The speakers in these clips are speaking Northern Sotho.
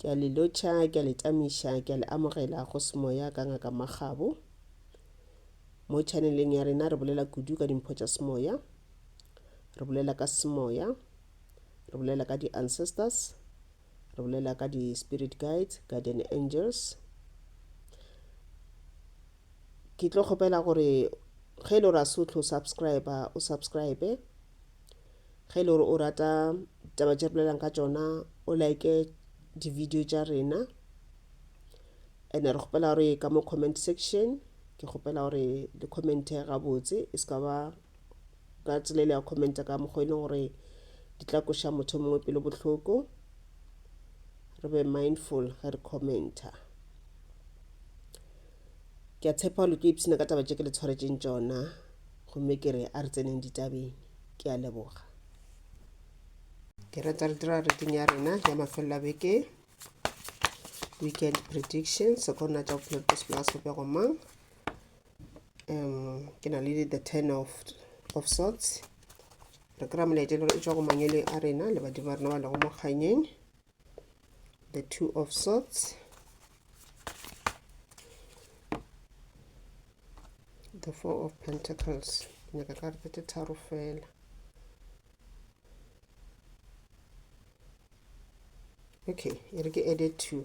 Ke a le lotšha, ke a le tamiša, ke a le amogela go semoya ka Ngaka Makgabo. Mo chaneleng ya rena re bolela kudu ka dimpho tša semoya, re bolela ka semoya, re bolela ka di-ancestors, re bolela ka di-spirit guides, guardian angels. ke tlo kgopela gore ge e le gore a se o tlo subscribe o subscribe ge e le gore o rata taba tše bolelang ka tšona o like di-video tša rena and re kgopela gore ka mo comment section ke kgopela gore le commente gabotse e se ka ba ka tsela ile ya commenta ka mokgwa e leng gore di tla koša motho o mongwe pelo bohloko re be mindful ge re commenta ke a tshepa lo tlo ipshina ka taba tše ke le tshwaretseng tšona gomme ke re a re tseneng ditabeng ke a leboga ke rata re dira reading ya rena ya mafelelo a beke weekend prediction sekorona tša bophelo tsa sepela sopego mang um ke na le the ten of, of sorts re kry-a molaetša le gore e tswa go mangweleng a rena le badimo ba rena ba lego mo kganyeng the two of sorts the four of pentacles nyaka ka rete tse tharo fela okay e re ke added two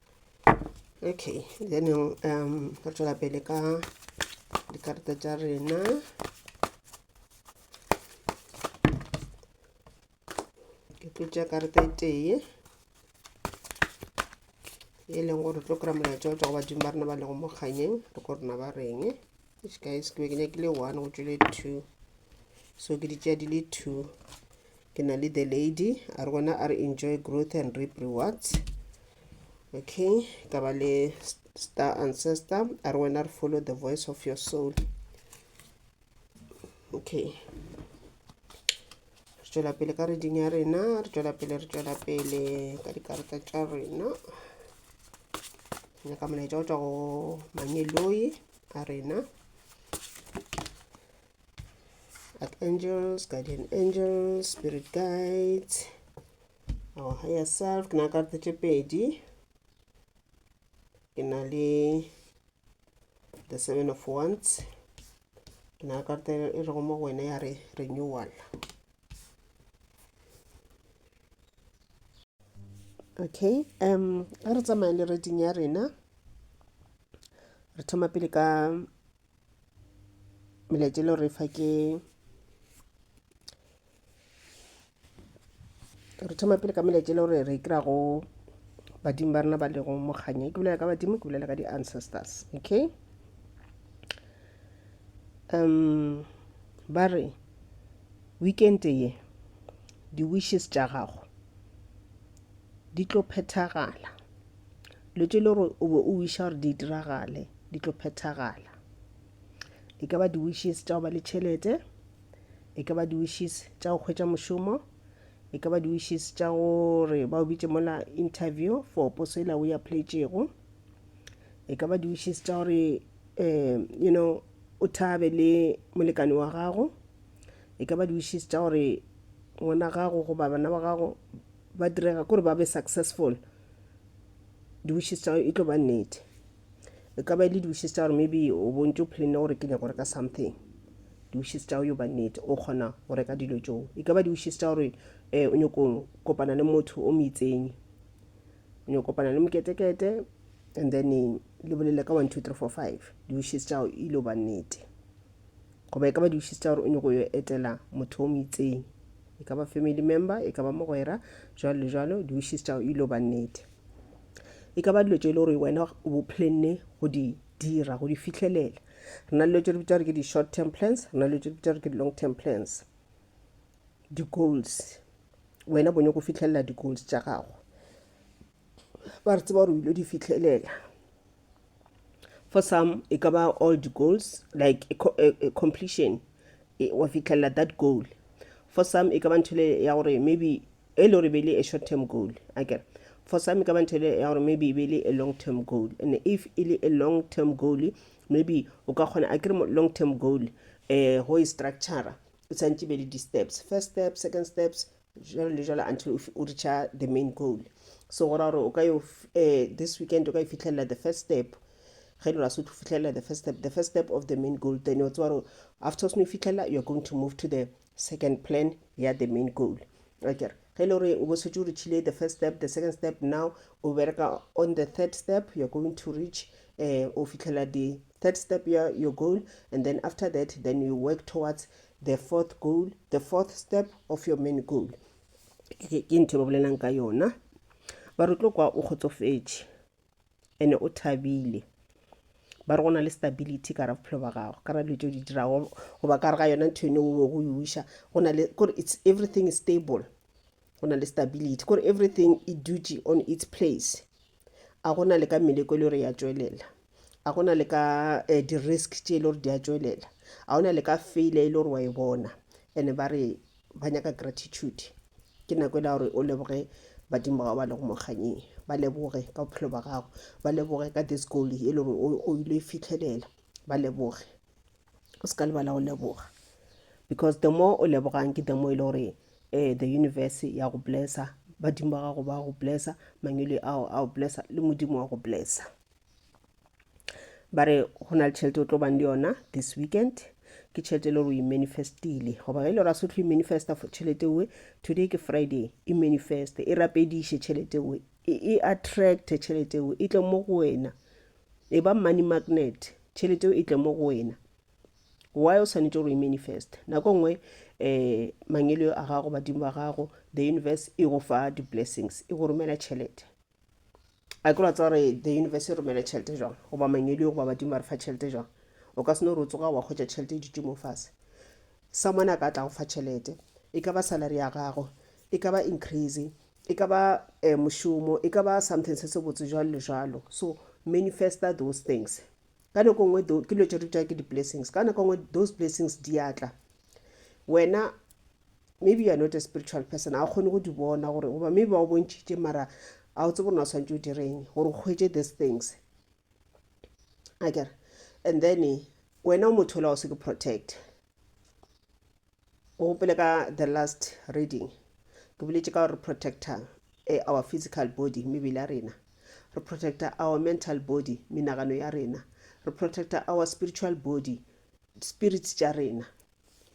okay then um re tswela pele ka dikarata tša rena ke tlo tša karata e tee e leng gore tlo kry-a molaetša o tswa go badimo ba rena ba lego mo kganyeng re ko rena ba reng guys ke be ke nyakile one go tšwele two so ke ditšea di le two Ke na le the lady a re gona a re enjoy growth and reap rewards okay ka ba le star ancestor a re wena re follow the voice of your soul okay re tšwela pele ka reding ya rena re tšwela pele re tšwela pele ka dikarata tša rena nyaka molaetša go tšwa go mangeloi a rena archangels guardian angels spirit guides our higher self ke na karata tše pedi ke na le the seven of wands ke na karata e rego mo go wena ya re renewal okay um a re tsamaye le reading ya rena re thoma pele ka melaetša le re fa ke re thoma pele ka melaetša le gore re kry-a go badimo ba rena ba lego mokganya ke bolela ka badimo ke bolela ka di-ancestors okay um ba re weekend ye di-wishes tša gago di tlo phethagala Dilo tše e le gore o be o wiša gore di diragale di tlo phethagala. E ka ba di-wishes tša go ba le tšhelete, e ka ba di-wishes tša go hwetša mošomo, e ka ba di-wishes tša gore ba o bitše mola interview for poso ela o e applyetšego, e ka ba di-wishes tša gore um you know o thabe le molekane wa gago, e ka ba di-wishes tša gore ngwana gago goba bana ba gago ba direga kore ba be successful di-wishes tša e tlo ba nnete e ka ba e le di-wishes tša gore maybe o bontse o planne gore ke nyaka go reka something di-wishes tša yo ba nnete o kgona go reka dilo tšoo e ka ba di-wishes tša gore um o nyako kopana le motho o moitsenyi o nyako kopana le moketekete and then le bolele ka one two three four five di-wishes tšao e lo ba nnete goba e ka ba di wishes tsa gore o nyoko yo etela motho o mo itseng e ka ba family member e ka ba mogwera jalo le jalo di wishes tsa e lo ba nnete e ka ba dilo tse e le gore wena o bo planne go di dira go di fitlhelela re na le dilo tse re bitsa gore ke di-short term plans re na le dilo tse re bitsa gore ke di-long term plans di-goals wena bo nyoko fitlhelela di-goals tsa gago ba re tseba gore o ile di fitlhelela for some e ka ba all the goals like a, co a, a completion e, wa fitlhelela that goal for some e ka ba nthole ya gore maybe e le gore bele a short term goal akere for some e ka ba nthole ya gore maybe e bele a long term goal and if e le a long term goal maybe o ka kgona a kere long term goal um go e structura o tshwanetse be le di-steps first step second steps jalo le jalo until o f- o reacha the main goal so go ra gore o ka yo f- eh, this weekend o ka e fitlhelela the first step ge le rasotho o fitlhelela the first step the first step of the main goal then o tseba gore after o seno e fitlhelela you're going to move to the second plan ya the main goal akere ge e le gore o bo setse o reachile the first step the second step now o bereka on the third step you're going to reach eh, o fitlhelela the Third step ya your goal and then after that then you work towards the fourth goal, the fourth step of your main goal. Ke ke ntho e ba bolelang ka yona. Ba re o tlo kwa o kgotsofetše ene o thabile. Ba re go na le stability ka ra bophelo ba gago, ka ra dilo tse o di dirago goba ka re ga yona ntho eno o go yuša. Go na le kore it's everything is stable. Go na le stability kore everything e dutše on its place. a go na le ka meleko e le gore ya tšwelela a go na le ka eh, di-risk tše e le gore di a tšwelela a go na le ka failure e le gore wa e bona and ba re ba nyaka gratitude ke nako e la gore o leboge badimo ba gago ba lego mokganyeng ba leboge ka bophelo ba gago ba leboge ka this goal e le gore o- o ile e fitlhelela ba leboge o se ka lebala go leboga because the more o lebogang ke the more e le gore um the universe ya go blessa badimo ba gago ba go blessa mangwele ao a go blessa le modimo wa go blessa ba re go na le tšhelete o tlo bang le yona this weekend ke tšhelete e le gore o imanifestile goba ge e le gore a sotho imanifesta tšhelete oe today ke friday e manifeste e rapediše tšhelete oe e attracte tšhelete oe e tle mo go wena e ba money magnet tšhelete eo e tle mo go wena why o swanetše gore e manifest nako nngwe um mangelo a gago badimo ba gago the universe e go fa di-blessings e go romela tšhelete a ke ratsa gore the universe e romele tšhelete jang goba mangedi goba badimo ba re fa tšhelete jang o ka seno gore o tsoga wa kgwetsa tšhelete e dutše mo fase someone a ka tla go fa tšhelete e ka ba salary ya gago e ka ba increase E ka ba mošomo, e ka ba something se se botse jwalo le jwalo. So manifesta those things. Ka nako nngwe ke dilo tše re bitša ke di-blessings. Ka nako nngwe those blessings di a tla. Wena maybe you are not a spiritual person, ga o kgone go di bona gore goba maybe ba o bontšhitše mara ga o tsebe gore na o swantse o direng gore o hwetše these things a kere and then wena o motho ola o se ke protect O gopole ka the last reading ke boletše ka gore re protecta eh, our physical body mebele ya rena re protecta our mental body menagano ya rena re protecta our spiritual body spirits tša rena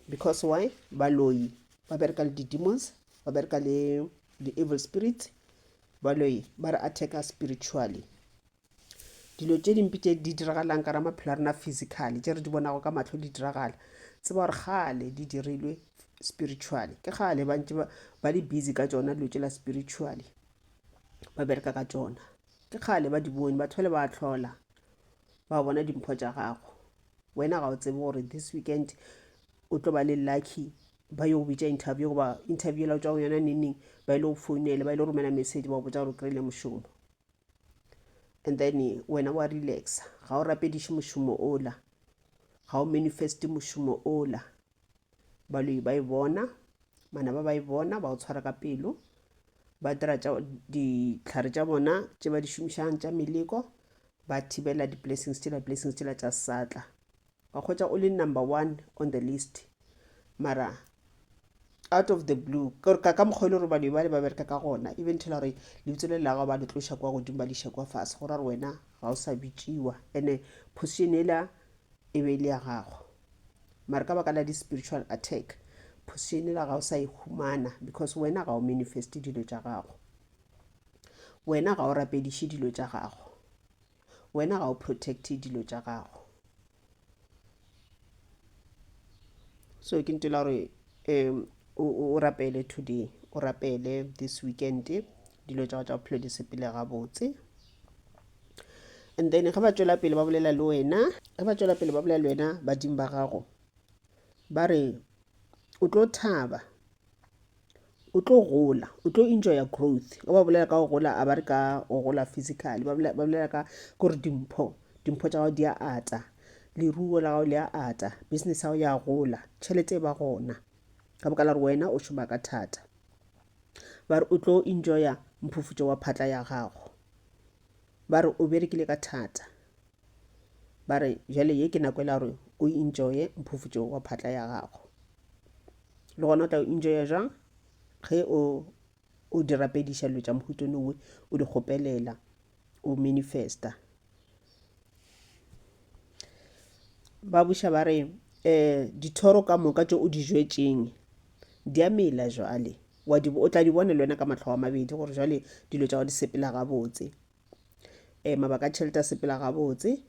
because why baloyi ba bereka le di-demons ba bereka le di-evil spirits baloyi ba re attacka spiritually dilo tše dimpe tše di diragalang ka ra maphelo a rena physically tše re di bonago ka mahlo di diragala tseba gore gale di dirilwe spiritually ke gale ba ntse ba le busy ka tsona dilo tše la spiritually ba bereka ka tsona ke gale ba di bone batho ba le ba tlhola ba bona dimpho tša gago wena ga o tsebe gore this weekend o tlo ba le lucky ba yo bitša interview goba interview la tswa go yona neneng ba ile go founele ba ile go romela message ba botsa gore o kry-ile mošomo and then wena wa relaxa ga o rapediše mošomo ola ga o manifeste mošomo ola baloi ba e bona mana ba ba e bona ba o tshwara ka pelo ba dira ditlhare tša bona tše ba di šomišang tša meleko ba thibela di-blessings tšela blessings tšela tša satla wa kgwetša o le number one on the list mara out of the blue ka ka mokgwa e le gore bane bale ba bereka ka gona e bentshela gore lebitso le lago ba le tloša kwa godimo ba leša kwa fase go ra gore wena ga o sa bitšiwa ande position ela e be e le ya gago mare ka baka la di-spiritual attack position ela ga o sa e humana because wena ga o manifeste dilo tša gago wena ga o rapediše dilo tša gago Wena ga o protecte dilo tša gago. So ke ntela gore um o rapele today, o rapele this weekend, dilo tša go tša bophelo di sepele gabotse. And then ge ba tšwela pele ba bolela le wena, ge ba tšwela pele ba bolela le wena badimo ba gago, ba re o tlo thaba o tlo gola o tlo enjoya growth ge ba bolela ka go gola a ba re ka go gola physically ba bolela ka gore dimpho dimpho tša gago di a ata leruo la gago le a ata business ya gago ya gola tšhelete e ba gona ka boka la gore wena o šoma ka thata ba re o tlo enjoya mphufutšo wa phatla ya gago ba re o berekile ka thata ba re jale ye ke nako e la gore o enjoye mphufutšo wa phatla ya gago le gona o tla o enjoya jang ge o o di rapediša dilo tša mohuto nongwe o di kgopelela o manifesta ba buša ba re um dithoro ka moka tše o di jwetseng di a mela jwale o tla di bone le wena ka matlho a mabedi gore jwale dilo tša go di sepela gabotse um mabaka a tšhelete a sepela gabotse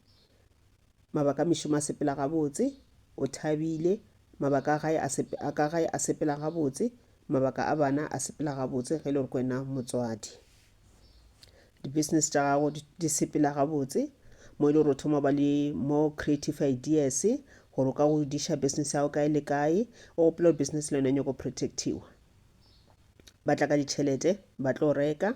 mabaka a mešomo a sepela gabotse o thabile mabaka a gae a ka gae a sepela gabotse mabaka a bana a sepela gabotse ge e le gore ko wena motswadi di-business tša gago di sepela gabotse mo e le gore o thoma ba le more creative ideas gore o ka go diša business ya gago kae le kae o gopela gore business le yone nyako protectiwa ba tla ka ditšhelete ba tlo reka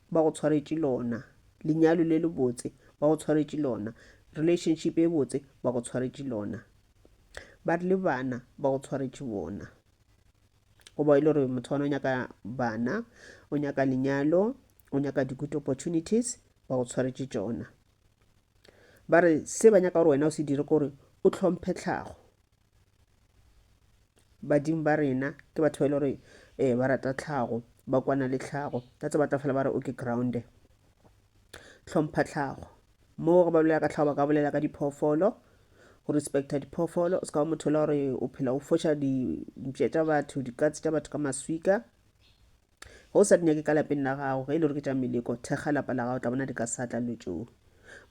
ba go tshwaretše lona lenyalo le le botse ba go tshwaretše lona relationship e botse ba go tshwaretše lona ba re le bana ba go tshwaretše bona goba e le gore motho wana o nyaka bana o nyaka lenyalo o nyaka di-good opportunities ba go tshwaretše tšona ba re se ba nyaka gore wena o se dire kore o tlhomphe tlhago badimo ba rena ke batho ba e le gore um ba rata tlhago ba kwana le tlhago ka tse ba tla fela ba re o ke grounde tlhompha tlhago mo go ba bolela ka tlhago ba ka bolela ka diphoofolo go respecta diphoofolo o se ka ba motho la gore o phela o foša dintše tša batho dikatse tša batho ka maswika Ge o sa di nyake ka lapeng la gago, ge e le gore ke tša meleko, thekga lapa la gago, tla bona di ka sa tla lotšong.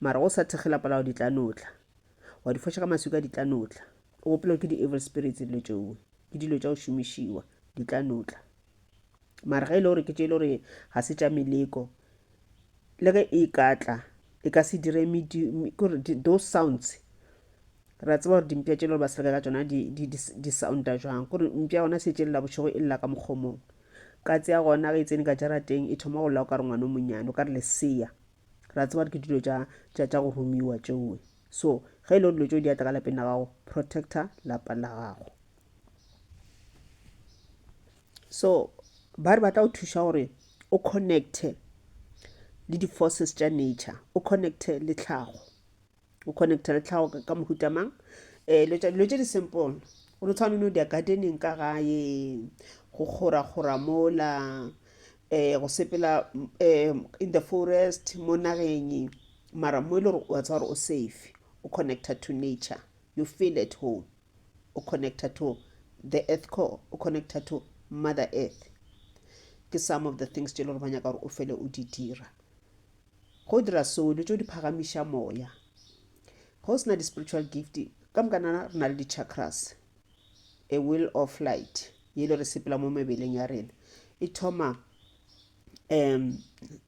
Mara ge o sa thekge lapa la gago, di tla no tla. Wa di foša ka maswika, di tla no tla. O gopela gore ke di-evil spirits dilo tšeo, ke dilo tša go šomišiwa, di tla no tla. Mara ge e le gore ke tše e le gore ga se tša meleko, le ge e ka tla e ka se dire those sounds re a tseba gore dimpša tše le gore ba seleka ka tsona di sounda jwang kore mpša gona se tšelela bošego e lela ka mokgomong ka tsea gona ge e tsene ka jarateng e thoma go lela o ka re ngwana o monyane o ka re leseya re a tseba gore ke dilo tša go romiwa tšeoe so ge e le gore dilo tšeo di atla ka lapeng la gago protector lapa la gago so ba re ba tla go thuša gore o connecte le di-forces tša nature o connecte le tlhago o connecte le tlhago ka mohuta mang um dilo tše di-simple o no tshwane no dia gardening ka gae go kgora-kgora mola um go sepela um in the forest mo nageng mara mo e le gore wa tsa gore o safe o connecta to nature you feel at home o connecta to the earth core o connecta to mother earth ke some of the things tse e le gore ba nyaka gore o fele o di dira go dira seo dilo tse di phagamiša moya ga o sena di-spiritual gift ka mokanana re na le di-chakras a will of light ye e le re sepela mo mebeleng ya rena e thoma um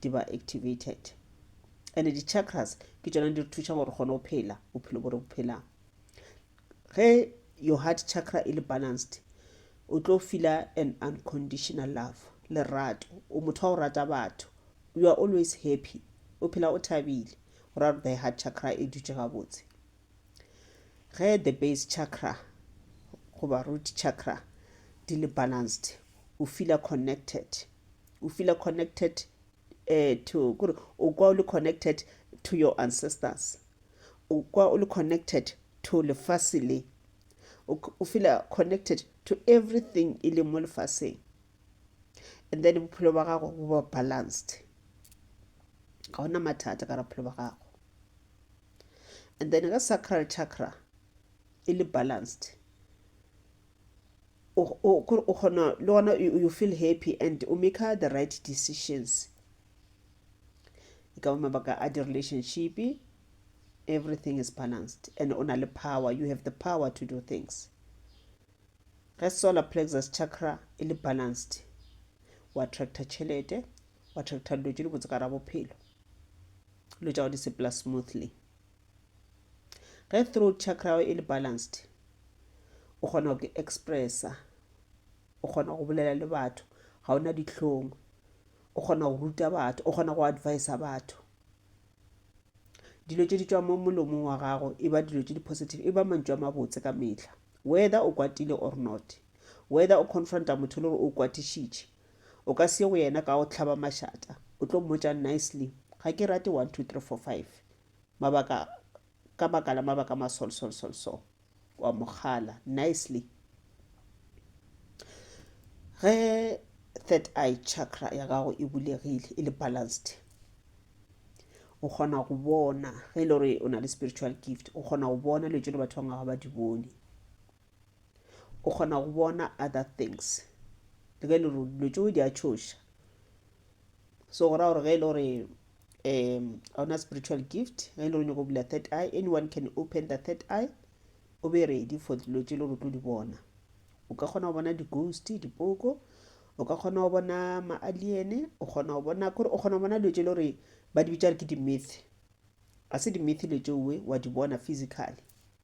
di ba activated and di chakras ke tsona di re thuša gore kgone go phela bophelo bo re bo phelang ge your heart chakra e le balanced o tlo fila an unconditional love lerato o motho wa go rata batho you are always happy o phela o thabile go ra gore the heart chakra e dutše gabotse ge the base chakra goba root chakra di le balanced o feela connected o feela connected uh, to kore o kwa o le connected to your ancestors o kwa o le connected to lefase le o feela connected to everything e leng mo lefaseng and then bophelo ba gago bo ba balanced ga ona mathata ka bophelo ba gago and then ge sacral chakra e le balanced o kgona le gona you feel happy and o maker the right decisions e ka ba mabaka a di-relationship everything is balanced and o na le power you have the power to do things ge solar plexus chakra e le balanced o attracta tšhelete wa thetha dilo tše dibotse ka ra bophelo dilo tša go di sepela smoothly ge throat chakra e le balanced o kgona go expressa o kgona go bolela le batho ga ona ditlhong o kgona go ruta batho o kgona go advisa batho dilo tše di tswa mo molomong wa gago e ba dilo tše di positive e ba mantšu a mabotse ka metlha whether o kwatile or not whether o confronta motho le gore o kwatišitše O ka se ye go yena ka go hlaba mašata. O tlo mmotša nicely, Ga ke rate one, two, three, four, five. Mabaka, ka baka la mabaka a masolsolsolso. O a mo kgala, nicely. Ge third eye chakra ya gago e bulegile, e le balanced, o kgona go bona, ge e le gore o na le spiritual gift, o kgona go bona dilo tse le batho ba bangwe ga ba di bone. o kgona go bona other things le ge e le gore dilo tšeo di a tšhoša so go raya gore ge e le gore um ga ona spiritual gift ge e le gore nyako bula third eye anyone can open the third eye o be ready for dilo tše e le gore o tlo di bona o ka kgona go bona di-ghost dipoko o ka kgona go bona ma-alien o kgona go bona kore o kgona go bona dilo tše e le gore ba di bitša re ke di-myth ga se di-myth dilo tšeoe wa di bona physically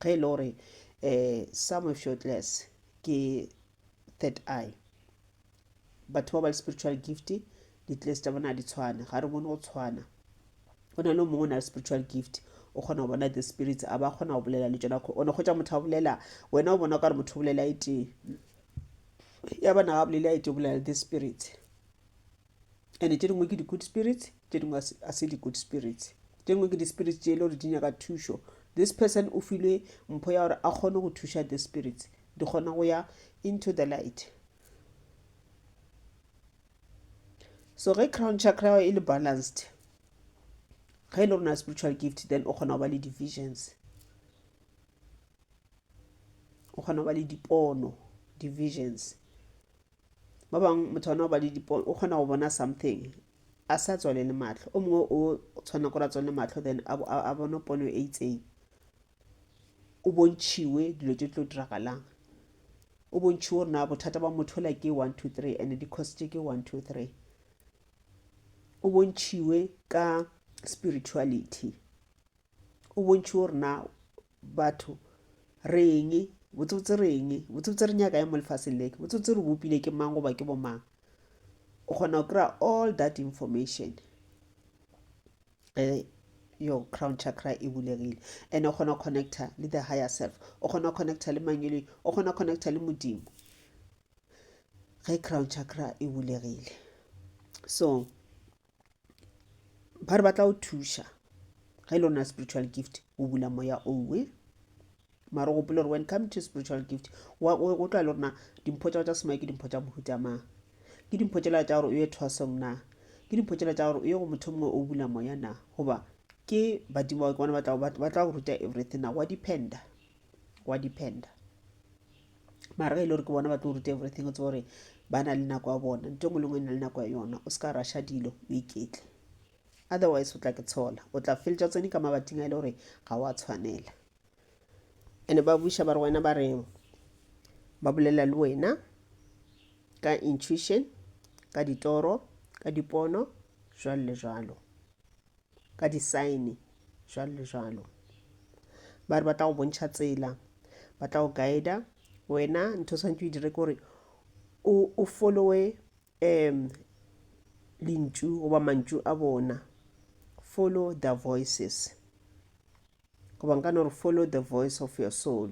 ge e le gore um some of your class ke third eye batho ba ba le spiritual gift di-class tša bona di tshwane ga re bone go tshwana go na le mongwe o na le spiritual gift o kgona go bona the spirits a ba kgona go bolela le tsona o ne kgotsa motho a bolela wena o bona o ka re motho o bolela e tee ya bana ga bolela e tee bolela the spirits ande tše dingwe ke di-good spirits tše dingwe a se di-good spirits tše dingwe ke di-spirits tše e le gore di nyaka thušo this person o filwe mpho ya gore a kgone go thuša the spirits di kgona go ya into the light so ge crown chakra e le balanced ge e le rona spiritual gift then o kgona go ba le divisions o kgona go ba le dipono divisions ba bangwe motho ona o ba le dipone o kgona go bona something a sa tswalele matlho o mongwe o tshwana gore a tswalele matlho then a bone pono e itseng o bontšhiwe dilo tse tlo diragalang o bontšhiwe gore na bothata ba motho la ke one two three and di-coste ke one two three o bontšhiwe ka spirituality o bontšhiwe gore na batho re eng botsebotse re eng botsebotse re nyaka e mo lefaseng leke botsebotse re bopile ke mang goba ke bomang o kgona go kry-a all that information ge your crown chakra e bulegile and o kgona go connecta le the higher self o kgona go connecta le mangweleng o kgona go connecta le modimo ge crown chakra e bulegile so ba re ba tla o thuša ge e le ona spiritual gift o bula moya owe mara gopole gore when come to spiritual gift go tla le rona dimpho tsa go tsa semoya ke dimpho tsa mohuta mang ke dimpho tsela tsa gore o ye thwasong na ke dimpho tsela tsa gore o ye go motho mongwe o bula moya na goba ke badimo ba ke bona ba tla go ruta everything na wa dependa wa dependa mara ge e le gore ke bona ba tlo ruta everything o tse gore ba na le nako ya bona nto engwe le ngwe e na le nako ya yona o se ka rasha dilo o iketle otherwise o tla ke tshola o tla feletša tsone ka mabating a e le gore ga wa tshwanela ande ba buša ba re wena ba re ba bolela le wena ka intuition ka ditoro ka dipono jwalo le jwalo ka disaene jalo le jalo ba re ba tla go bontšha tsela ba tla go guida wena ntho o tshwanetse o e dire ke gore o followe um lentšu goba mantšu a bona follow the voices goba nka no re follow the voice of your soul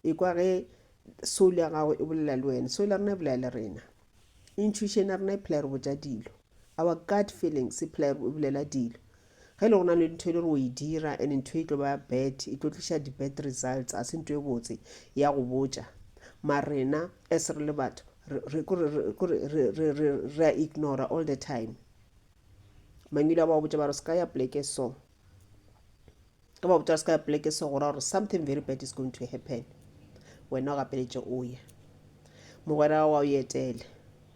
ikwa ge soul ya gago e bolela le wena soul ya rena e bolela le rena intuition ya rena e phela re botja dilo our gut feelings e phela e bolela dilo ge e le gona le ntho e le re o e dira and ntho e tlo ba bad e tlo tliša di-bad results a se ntho e botse ya go botja ma rena as re le batho re a ignora all the time mangwile a ba botja ba re se ka ya pleke so ka ba botsa se ka pleke se gora gore something very bad is going to happen wena o gapeletše o ye mogwera gago wa o etele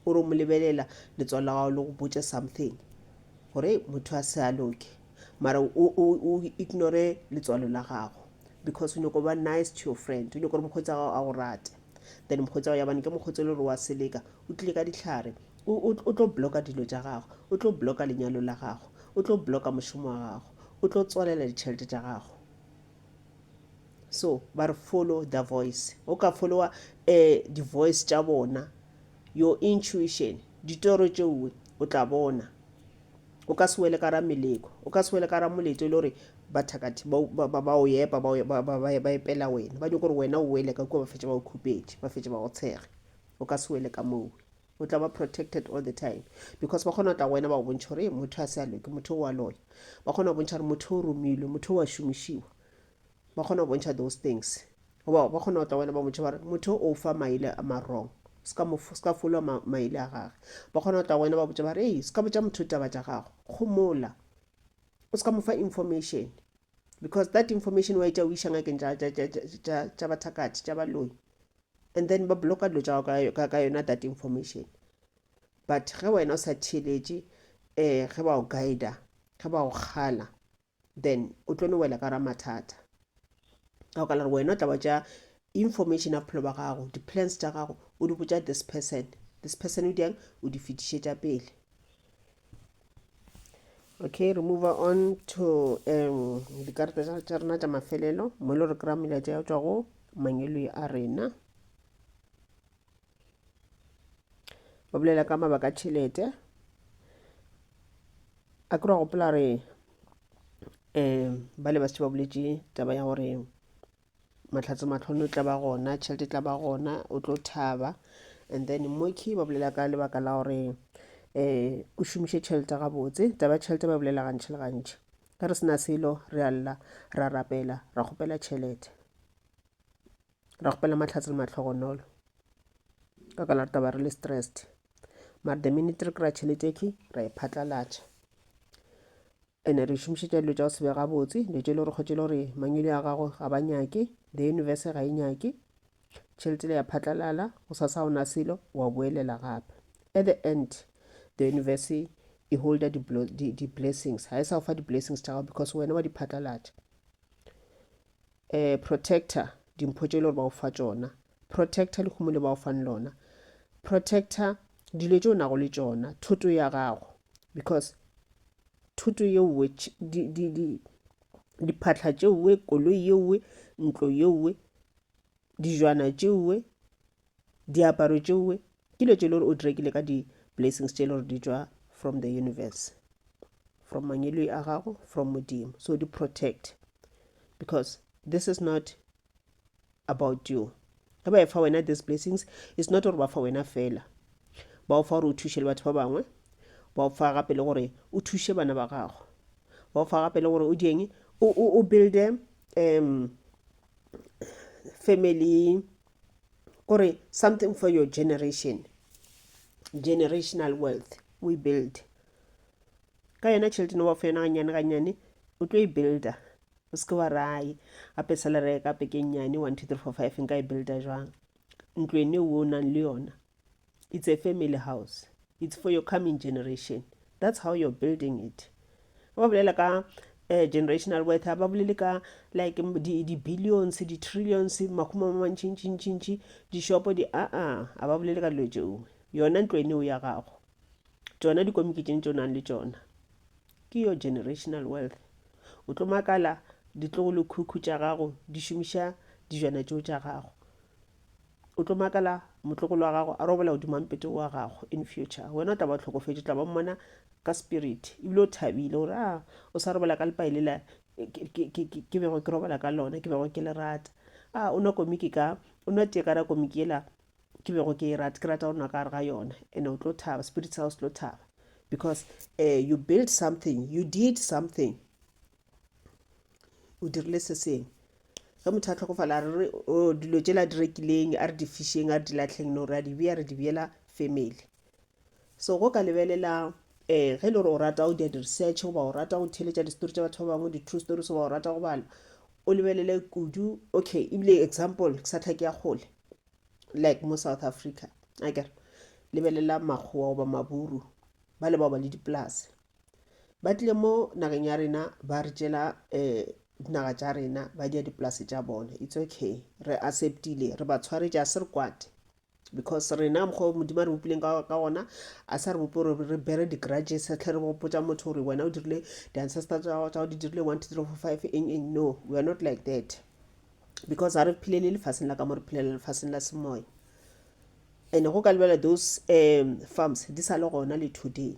o re o mo lebelela letswalo la gago le go botse something gore motho a se a loke mara o ignore letswalo la gago because o nyako ba nice to your friend o nyako gore mokgotsi gago a go rate then mokgotsi gago yabane ke mokgotsi le gore wa seleka o tlile ka ditlhare O, o, o tlo bloka dilo tša gago. O tlo bloka lenyalo la gago. O tlo bloka mošomo wa gago. O tlo tswalela ditšhelete tša gago. So, ba re follow the voice. O ka followa eh, di-voice tša bona, your intuition, ditoro tšeoe, o tla bona. O ka se wele ka ra meleko. O ka se wele ka ra moleto e le gore bathakathi ba, ba, ba, ba o epa, ba, o- ba, ba, ba, ba epela wena. Ba nyoko gore wena o wele ka kua ba fetše ba o khupetše, ba fetše ba go tshege. O ka se wele ka mowe. o tla ba protected all the time because ba kgona go tla go wena ba go bontšha gore motho a se a loke motho o wa loya ba kgona go bontšha gore motho o romilwe motho o wa šomišiwa ba kgona go bontšha those things goba ba kgona go tla wena ba motšha bare motho o fa maile a marong se ka folwa maile a gage ba kgona go tla wena ba botša bare ee se ka botša motho taba tša gago gomola o se ka mo fa information because that information wa etša o iša ngakeng tša bathakatši tša baloi and then ba bloka dilo tša gago ka, ka yona that information but ge wena o sa theeletše um ge ba o guida ge ba o kgala then o tlo no wela ka ra mathata ka go ka la gore wena o tla ba tša information ya bophelo ba gago di-plans tša gago o di botša this person this person o diang o di fetišetša pele okay re move on to um dikarata tša rena tša mafelelo mo e le gore kry-a melaetša ya tswa go mangweloi a rena ba bolela ka mabaka a tšhelete a kry gopola re um ba le ba setše ba boletše taba ya gore mahlatse matlhono e tla ba gona tšhelete e tla ba gona o tlo thaba and then moki ba bolela ka lebaka la gore um o šomiše tšhelete gabotse taba ya tšhelete ba bolela gantšhi le gantšhi ge re sena selo re a lla ra rapela ra kgopela tšhelete ra kgopela mahlatse le matlhogonolo ka ka la re taba re le stressed mara the minute re kry-a tšhelete ke ra e phatlalatša Ene re šomišetša dilo tša go se be gabotse, dilo tše e le gore kgotše e le gore mangwele a gago ga ba nyake, the universe ga e nyake, tšhelete le ya phatlalala, go sa sa ona selo, wa boelela gape. At the end, the universe e holder di-blessings, ga e sa go fa di-blessings tša gago because wena wa di phatlalatša. Eh, protector, dimpho tše e le gore ba o fa tšona. Protector, lehumo le ba o fang lona. Protector, dilo tše o nago le tšona, thuto ya gago. Because thuto ye nngwe, di, di, di, diphatlha tše nngwe, koloi ye nngwe, ntlo ye nngwe, dijwana tše nngwe, Diaparo tšewe ke dilo tše le gore o di rekile ka di-blessings tše le gore di tšwa from the universe from mangweloi a gago from modimo so di protect because this is not about you ge ba e fa wena these blessings it's not gore ba fa wena fela ba o fa gore o thuše le batho ba bangwe ba o fa gape le gore o thuše bana ba gago ba o fa gape le gore o dieng o builde um family o re something for your generation generational wealth o e build ka yona tšhelete ne wa fa yona ganyane ganyane o tlo e builda o seke wa raye gape salary ya ka peke nnyane one two three four five nka e builda jwang ntlo ene o o nang le yona it's a family house it's for your coming generation that's how you're building it ba bolela ka uh, generational worth ha ba bolele ka like di-billions di-trillions makgoma ma mantšintšintšintši dishopo di aa ah, a ba bolele ka dilo tšeo yona ntlo eneo ya gago tsona dikomiki tšeng tso nang le tsona ke your generational wealth o tlo makala ditlogo le khukhu tša gago di šomiša dijana tšeo tša gago O tlo makala motlogolo wa gago a robola godimo ga mpete wa gago in future. Wena o tla ba o hlokofetše, o tla ba o mmona ka spirit ebile o thabile gore a o sa robola ka lepai lela ke bego ke robala ka lona, ke bego ke le rata. A o nwa komiki ka, o nwa tee ka ra komiki yela ke bego ke e rata, ke rata go nwa ka gare ga yona. And o tlo thaba, spirit sa gago se tlo thaba because um you built something, you did something o dirile se sengwe ge motho a tlhokofala re re o dilo tšela di rekileng a re di fišeng a re di latlheng no re a di bea re di beela family so go ka lebelela um ge e le gore o rata go dia di-research goba o rata go theletša distory tša batho ba bangwe di-true stories goba o rata go bala o lebelele kudu okay ebile example ke sa tlhake ya kgole like mo south africa akere lebelela makgowa goba maburu ba le bao ba le dipolase ba tlile mo nageng ya rena ba re tšela um dinaga tša rena ba dia dipolase tša bone it's okay re acceptile re ba tshwaretša se re kwate because rena mokgwa o modimo a re bopileng ka ka ona a sa re bope gore re bere di-grudges re tlhe re gopotsa motho gore wena o dirile di-ancestor tsa gago di dirile one two three four five eng eng no we are not like that because ga re phelele lefaseng la ka mo re phelela lefaseng la semoya And go ka lebela those um farms di sa le gona le today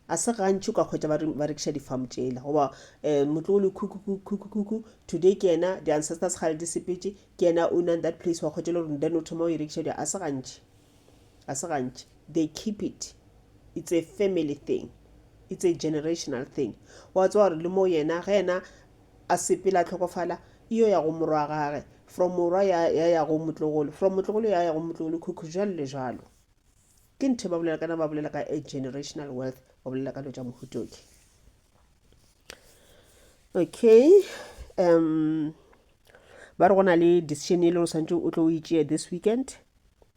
a se gantši o ka kgwetsa ba re- ba rekiša di-farm tšela goba um motlo o le khukukukukuku today ke yena di-ancestors gale di sepetše ke yena o nang that place wa kgwetsa le gore then o thoma o e rekiša di a se gantši a se gantši they keep it it's a family thing it's a generational thing wa tsewa gore le mo yena ge yena a sepela a tlhokofala e yo ya go morwa gage from morwa ya ya ya go motlogolo from motlogolo ya ya go motlogolo khukhu jalo le jalo ke nthe ba bolela kana ba bolela ka a generational wealth ba bolela ka lo tša mohutoki okay um ba re go na le decision e le o swantse o tlo o itšea this weekend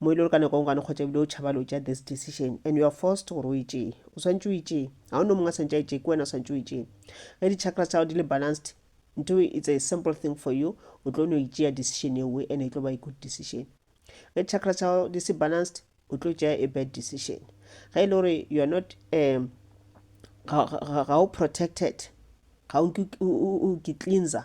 mo e le gore ka nako e ngwane kgotsa ebile o tšhaba lo tšea this decision and you are forced gore o itšee o swantse o itšee ga o ne mongwe a swantse a itšee ke wena o swantse o itšee ge di-chakra tsa gago di le balanced nto it's a simple thing for you o tlo no itšea decision e nngwe and e tlo ba e good decision ge chakra tsa gago di se balanced o tlo tšea a bad decision ge e le gore you are not um, ga o protected ga o ke cleanser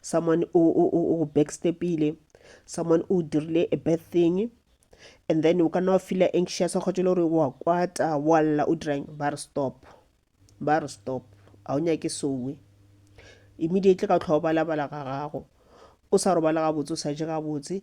someone o, o, o, o backstepile someone o dirile a bad thing and then o ka nna wa feela anxious wa kgotse le gore wa kwata wa lla o dirang ba re stop ba re stop ga o nyake sowe immediately ka tlhoa o balabala ga gago o sa robala gabotse o sa je gabotse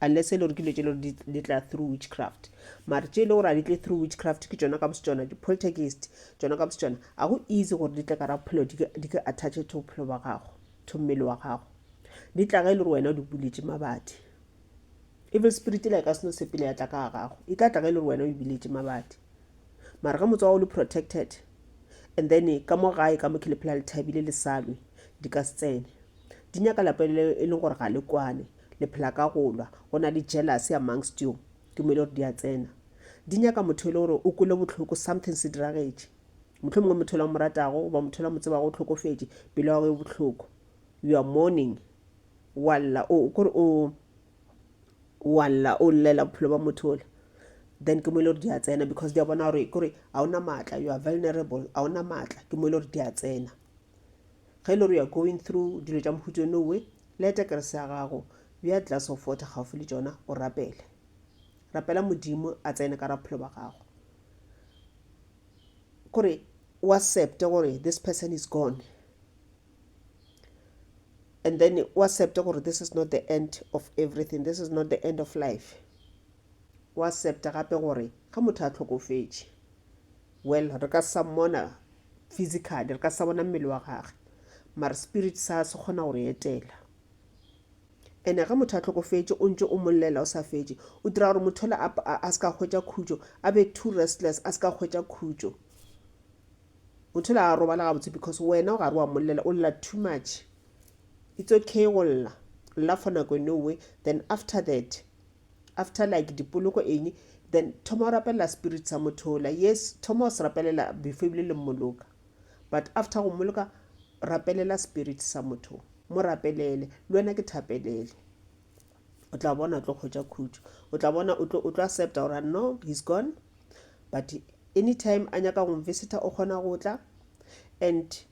unless e le gore ke dilo tše e le gore di- di tla through witchcraft mare tše e le gore a di tle through witchcraft ke tšona ka bose tšona di-poltergeist tšona ka bose tšona ga go easy gore di tle ka ra bophelo di ke- di ke attache to bophelo ba gago to mmele wa gago di tla ge e le gore wena o di buletše mabadi evil spirit la e ka seno sepele ya tla ka ga gago e tla tla ge e le gore wena o e buletše mabadi mara ge motse wa gago le protected and then eh, ka mo gae ka mo ke le phela le thabile le salwe di ka se tsene di nyaka lapeng le e leng gore ga le kwane Le phela ka go lwa. Go na le jealousy amongst you. Tumelo gore di a tsena. Di nyaka motho e le gore o kwele bohloko, something se diragetše. Mohlomongwe motho yola o mo ratago goba motho yola o mo tsebago o hlokofetše, pelo ya gago e bohloko. You are mourning. Wa lla, o, kore o, wa lla, o llela bophelo bja motho yola. Then ke mo e le gore di a tsena because di a bona gore kore ga o na maatla, you are vulnerable, ga o na maatla. Ke mo e le gore di a tsena. Ge e le gore you are going through dilo tša mohuta yono we, leta kerese ya gago, bea glass of water gaufi le tšona, o rapele. Rapela Modimo a tsene ka raphelo ba gago. Kore o accepte gore this person is gone and then o accepte gore this is not the end of everything this is not the end of life o accepte gape gore ga motho a tlhokofetše Well, re ka sa mmona physically, re ka sa bona mmele wa gage, mara spirit sa se kgona go re etela. Ene ge motho a tlhokofetše, o ntše o mollela o sa fetše, o dira gore motho la a se ka hwetša khutšo, a be too restless, a se ka hwetša khutšo. Motho la a robala gabotse because wena o gare wa mollela, o lla too much. It's okay go lla, lla for nako e nngwe, then after that, after like dipoloko eng then thoma o rapelela spirit sa motho ola yes thoma o se rapelela before ebile le mmoloka but after go mmoloka rapelela spirit sa motho mo rapelele le wena ke thapelele o tla bona o tlo kgwetsa khutso o tla bona o tlo accepta gore no he's gone but anytime a nyaka go mvisita o kgona go tla and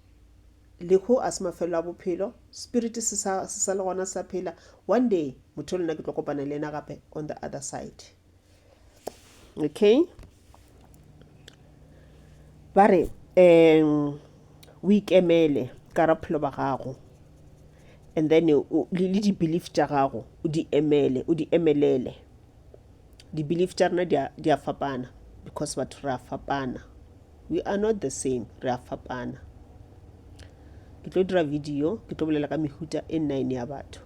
lehu a se mafelo a bophelo spirit se sa se sa le gona sa phela one day motho lena ke tlo kopana le ena gape on the other side okay ba re um o ikemele ka ra phelo ba gago and then le di-belief tša gago o di emele o di emelele di-belief tša rena di a fapana because batho re a fapana we are not the same re a fapana ke tlo dira video ke tlo bolela ka mehuta e nine ya batho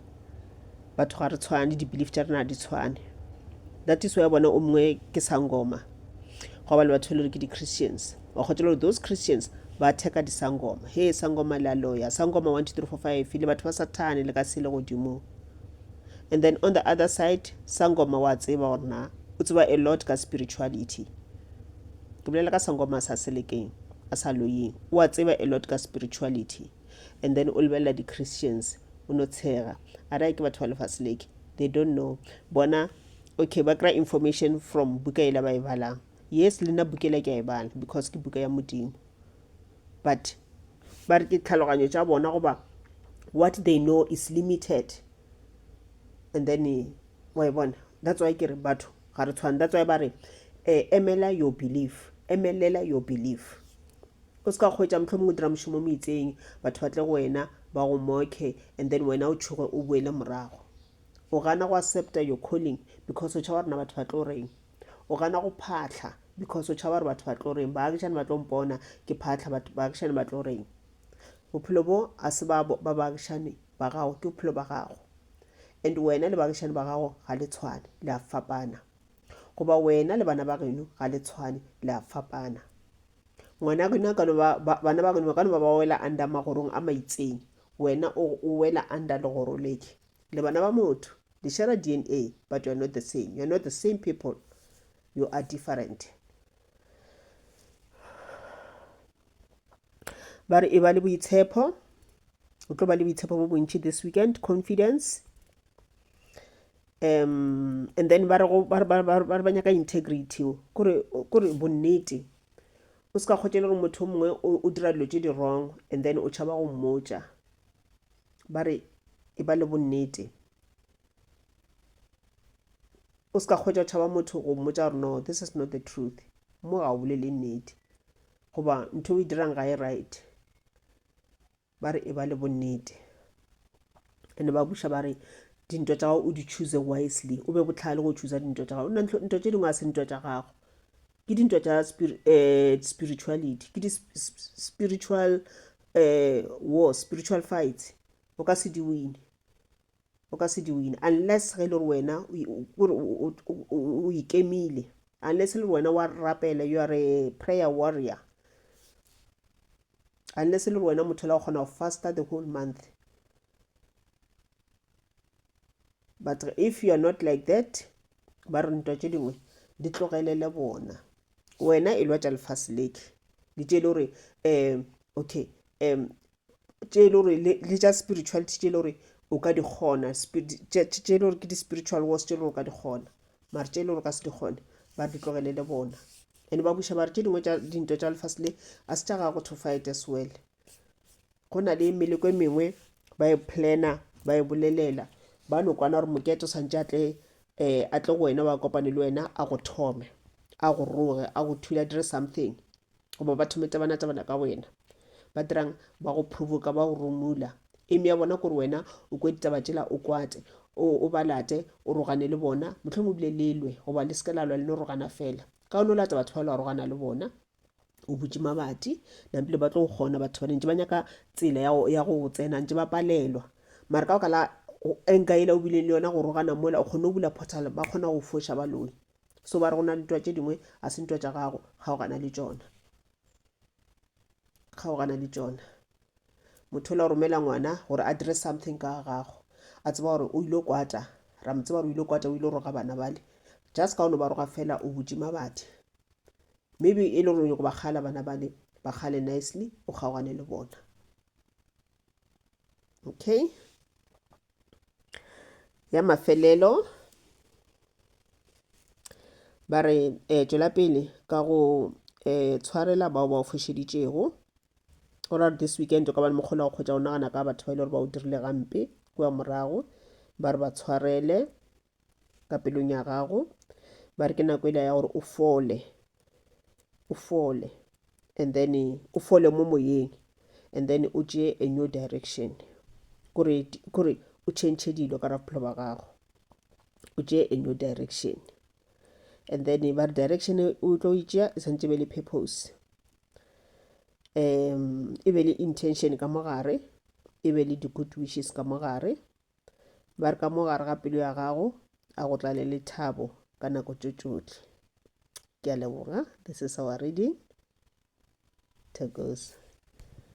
batho ga re tshwane di-belief tša rena di tshwane that is why bona o mongwe ke sangoma go ba le batho e le gore ke di-christians wa kgotsa gore those christians ba theka disangoma he sangoma le a loya sangoma one two three four five le batho ba sathane le ka sele godimo and then on the other side sangoma wa tseba gore na o tseba a lot ka spirituality ke bolela ka sangoma sa selekeng a sa loyeng o a tseba a lot ka spirituality and then o lebelela di-christians o no tshega a raya ke batho ba lefase leke they don't know bona okay ba kry information from buka ela ba e balang yes le nna bukela ke a e bala because ke buka ya modimo but ba re ke tlhaloganyo tša bona goba what they know is limited and then wa e bona that's why ke re batho ga re tshwane that's why ba re eh, emela your belief emelela your belief o se ka kgwetsa motlho mongwe dira mošomo mo itseng batho ba tle go wena ba go mokhe and then wena o tshoge o boele morago o gana go accepta your calling because o tšhaba rena batho ba tlo reng o gana go phatlha because o tšhaba gore batho ba tlo reng baagišane ba tlo mpona ke phatlha baagišane ba tlo reng bophelo bo a se ba baagišane ba gago ke bophelo ba gago and wena le bagišani ba gago ga le tshwane le a fapana goba wena le bana ba geno ga le tshwane le a fapana ngwana geno ka no ba bana ba geno ba ka no ba ba wela under magorong a maitseng wena o o wela under legoro leke le bana ba motho le share dna but you are not the same you are not the same people you are different ba re e ba le boitshepo o tlo ba le boitshepo bo bontši this weekend confidence um and then ba re ba nyaka integrity kore bonnete o se ka kgotse le gore motho o mongwe o dira dilo tse di wrong and then o tšhaba go mmotša ba re e ba le bonnete o se ka kgwetša o tšhaba motho go mmotsa gore no this is not the truth mo ga o bolele nnete goba ntho o e dirang ga e right ba re e ba le bonnete ande ba buša ba re dintwa tša gago o di choose wisely o be botlhale go choose dintwa tša gago nna ntwa tše dingwe a se ntwa tša gago ke dintwa tša eh, spirituality ke di-spiritual eh, war spiritual fights o ka se di wine o ka se di wine unless ge e le gore wena o ikemile unless e le gore wena wa rapela you are a prayer warrior unless e le gore wena motho la o kgona go faster the whole month but if you are not like that ba re ntwa tše dingwe di tlogelele bona wena e lwa tša lefase leke di tše e le gore um okay um tše e le gore le tša spirituality tše e le gore o ka di kgona tše e le gore ke di-spiritual wars tše e le gore o ka di kgona mare tše e le gore o ka se di kgone ba di tlogele le bona and ba buša bare tše dingwe tša dintwa tša lefase le a se tša ga go tofite as well go na le meleko e mengwe ba e planner ba e bolelela ba no kwana gore moketo santse a tle um a tle go wena wa kopane le wena a go thome a go roge a go thula dire something goba ba thome tabana-tabana ka wena ba dirang ba go provoka ba go romula eme ya bona kore wena o kwe ditaba tšela o kwate o ba late o rogane le bona motlho mo bile lelwe goba le seke la lwa le no rogana fela ka o no lata batho ba lwa rogana le bona o butše mabati nabile ba tlo go kgona batho ba ntse ba nyaka tsela ya go tsena ntse ba palelwa mare ka baka la enka ele o bile le yona go rogana mola o kgone go bula portal ba kgona go foša baloi So ba re go na le ntwa tše dingwe a se ntwa tša gago kgaogana le tšona kgaogana le tšona motho o la o romela ngwana gore a dire something ka gago a tseba gore o ile kwata ra mo tseba gore o ile kwata o ile roga bana bale just ka ono ba roga fela o butše mabadi maybe e le gore go ba kgala bana bale ba kgale nicely o kgaogane le bona okay ya mafelelo ba re eh, tšwela pele ka go eh, tshwarela bao ba o fošeditšego o ra this weekend o ka ba le mokgolo wa go kgwetša o nagana ka batho ba ile gore ba o dirile gampe kua morago ba re ba tshwarele ka pelong ya gago ba re ke nako e le ya gore o fole o fole and then o fole mo moyeng and then o tšee a new direction kore o change dilo ka ra bophelo ba gago o tšee a new direction and then ba re direction e o tlo e tšea e tshwanetse be le purpose um e be le intention ka mogare e be le di-good wishes ka mogare ba re ka mo gare ga pelo ya gago a go tlale le thabo ka nako tso tšotlhe ke a leboga this is our reading to goes